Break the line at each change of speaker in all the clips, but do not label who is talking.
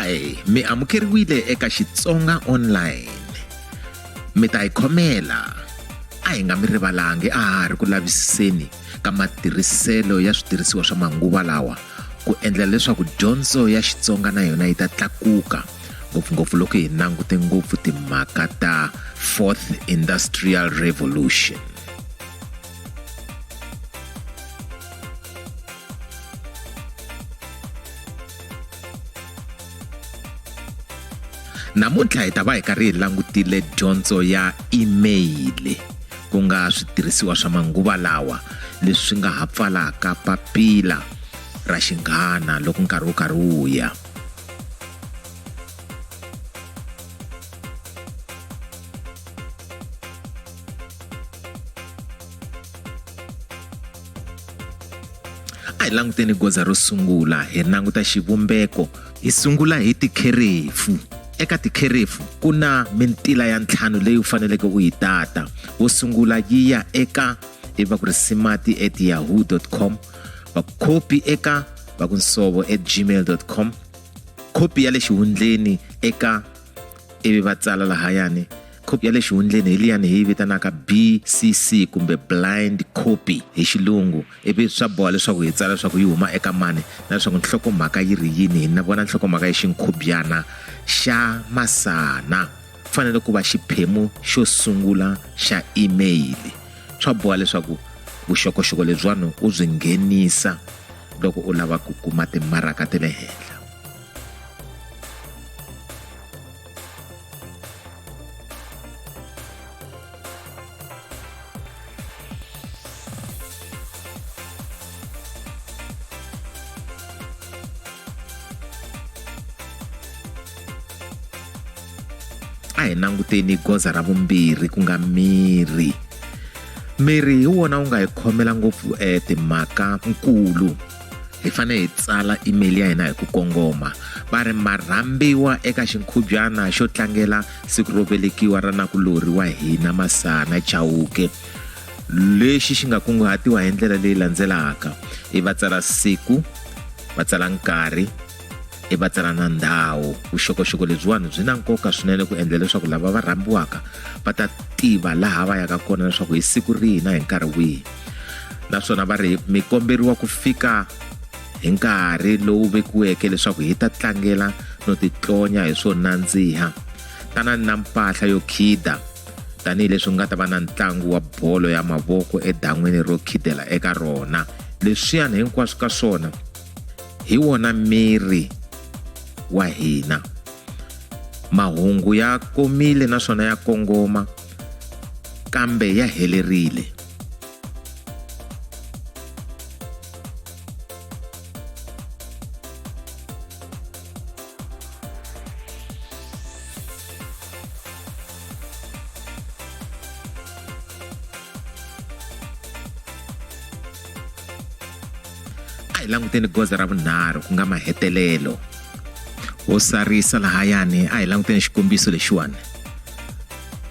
hi mi amukeriwile eka xitsonga online mi ta hi khomela a hi nga mi rivalangi a ha ri ku lavisiseni ka matirhiselo ya switirhisiwa swa manguva lawa ku endla leswaku dyondzo ya xitsonga na yona yi ta tlakuka ngopfungopfu loko hi langute ngopfu timhaka ta fourth industrial revolution namuntlha hi ta va hi karhi hi langutile dyondzo ya email ku nga switirhisiwa swa manguva lawa leswi nga ha pfalaka papila ra xinghana loko nkarhi wu karhi wu ya hi languteni goza ro sungula hi languta xivumbeko hi sungula hi tikherefu eka tikherefu ku na mintila ya ntlhanu leyi u faneleke u yi tata wo sungula yi ya eka iva ku ri simati at yahoo com va khopi eka va ku nsovo at gmail com khopi ya le xihundleni eka ivi va tsala lahayani khopi ya le xihundleni hi liyani hi yi vitanaka bcc kumbe blind copy hi xilungu ivi swa boha leswaku hi tsala leswaku yi huma eka mani na leswaku nhlokomhaka yi ri yini hi na vona nhlokomhaka yi xinkhubyana xa masana fanele ku va xiphemu xo sungula xa email swa boha leswaku vuxokoxoko lebyiwani u byi nghenisa loko u lava ku kuma timaraka ta le henhla a hi languteni goza ra vumbirhi ku nga miri miri hi wona wu nga hi khomela ngopfu eh, timhaka nkulu hi fanele hi tsala email ya hina hi ku kongoma va ri ma rhambiwa eka xinkhubyana xo tlangela siku ro velekiwa ra nakulorhi wa hina masana chauke lexi xi nga kunguhatiwa hi ndlela leyi landzelaka i va tsala siku va tsala nkarhi i va tsala na ndhawu vuxokoxoko lebyiwani byi na nkoka swinene ku endla leswaku lava va rhambiwaka va ta tiva laha va yaka kona leswaku hi siku rihi na hi nkarhi wihi naswona va ri mi komberiwa ku fika hi nkarhi lowu vekiweke leswaku hi ta tlangela no titlonya hi swo nandziha tanani na mpahla yo khida tanihileswi ku nga ta va na ntlangu wa bolo ya mavoko edan'wini ro khidela eka rona leswiyani hinkwaswo ka swona hi wona miri wa hina mahungu ya komile naswona ya kongoma kambe ya helerile a hi languteni goza ra vunharhu ku nga mahetelelo wo sarisa lahayani a hi languteni xikombiso lexiwani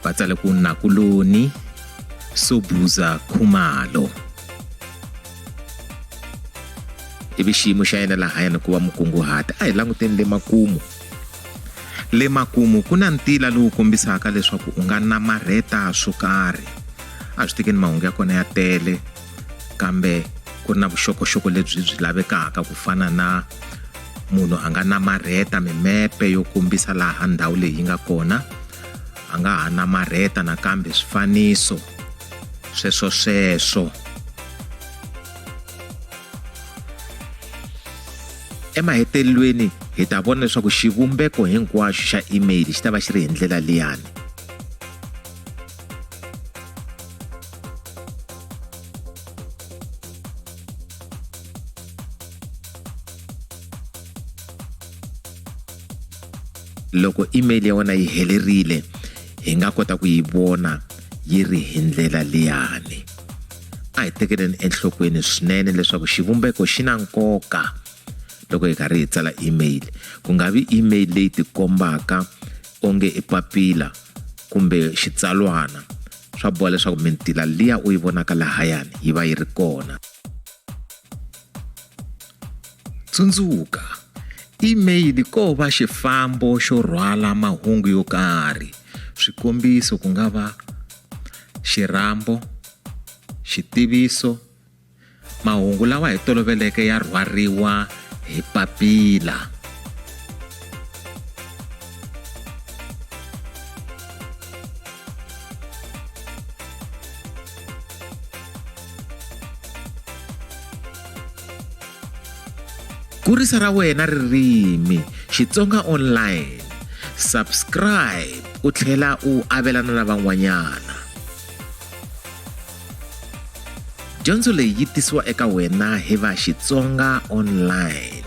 va tsale ku nakuloni sobuza khumalo ivi xiyimo xa yena lahayani ku va mukunguhati a hi languteni le makumu le makumu ku na ntila lowu kombisaka leswaku u nga namarheta swo karhi a swi tekeni mahungu ya kona ya tele kambe ku ri na vuxokoxoko lebyi byi lavekaka ku fana na munhu a nga namarheta mimepe yo kombisa laha ndhawu leyi yi nga kona a nga ha namarheta nakambe swifaniso sweswo sweswo emahetelelweni hi ta vona leswaku xivumbeko hinkwaxo xa email xi ta va xi ri hi ndlela liyani loko email ya wena yi helerile hi nga kota ku yi vona yi ri hi ndlela liyani a hi tekeleni enhlokweni swinene leswaku xivumbeko xi na nkoka loko hi karhi hi tsala email ku nga vi email leyi tikombaka onge i papila kumbe xitsalwana swa boha leswaku mintila liya u yi vonaka lahayani yi va yi ri kona tsundzuka email ko va xifambo xo rhwala mahungu yo karhi swikombiso ku nga va xirhambo xitiviso Mahungu lawa hi toloveleke ya rhwariwa hi papila. Kurisa ra wena ririmi Xitsonga online. Subscribe u tlhela u avelana na van'wanyana. dyondzo leyi yi tisiwa eka wena hi va xitsonga online